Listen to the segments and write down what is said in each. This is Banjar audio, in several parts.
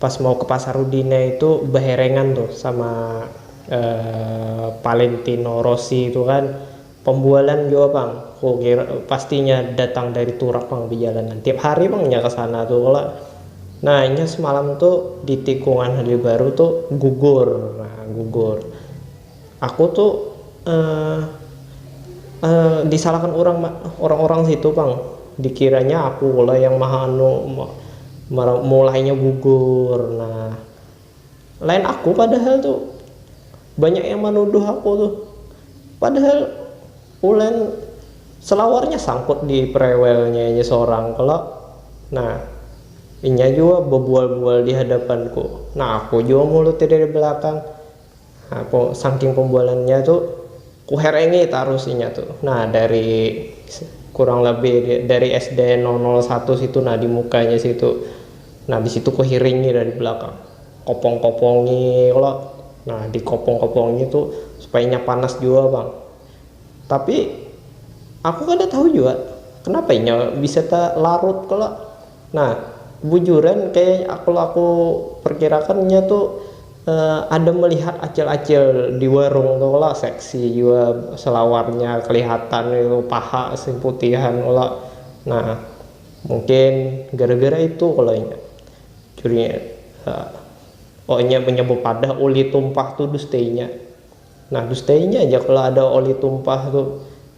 Pas mau ke pasar Udine itu beherengan tuh sama Valentino Rossi itu kan pembualan jua pang kukira pasti inya datang dari Turak pang bejalanan tiap hari pang inya kesana tuh kalo nah inya semalam tuh di tikungan Halibaru tuh gugur nah gugur. Aku tu eh eh disalahkan urang ma urang-urang situ pang, dikiranya aku lah yang maha anu ma mara mulainya gugur nah, lain aku padahal tu, banyak yang manuduh aku tu, padahal uln selawarnya sangkut di prewelnya inya sorang kalo, nah inya jua babual-bual di hadapanku, nah aku jua mulutnya dari belakang. Sangking pembualannya tu kuherengi tarus inya tu nah dari kurang lebih dari SD nol nol satu situ nah di mukanya situ nah habis itu kuhiringi dari belakang kopong kopongi kalo nah di kopong kopongi tu supaya inya panas jua pang tapi aku kada tahu jua kenapa inya bisa talarut kalo. Nah, bujuran kaya kalo aku perkirakan nya tu ada melihat acil-acil di warung tu kalo, seksi jua selawarnya kelihatan itu paha si putihan kalo, nah mungkin gara-gara itu kalo nya curinya, oh nya menyebut padah ulih tumpah tu dus teinya. Nah dustainya ja kalo ada oli tumpah tu.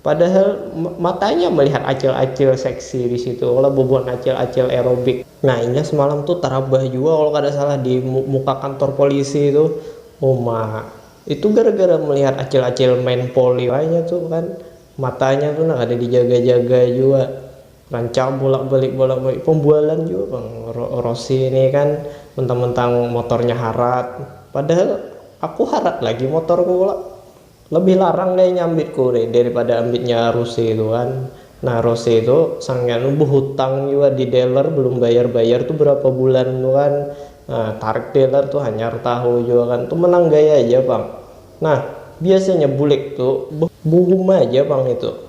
Padahal matanya melihat acil-acil seksi di situ kalo bubuhan acil-acil aerobik. Nah inya semalam tu tarabah jua kalo kada salah di muka kantor polisi tu. Uma, itu gara-gara melihat acil-acil main poli wayah tu kan. Matanya tu nah kada dijaga-jaga jua. Lancar bolak-balik bolak-balik pembualan jua pang Rossi ni kan mentang-mentang motornya harat padahal aku harat lagi motorku kalo lebih larang deh inya ambitku deh daripada ambitnya Rossi tu kan nah Rossi tu saking anu behutang jua di dealer belum bayar-bayar tu berapa bulan tu kan nah tarik dealer tu hanyar tahu jua kan tu menang gaya ja pang nah biasanya bulik tu behuhum aja pang itu.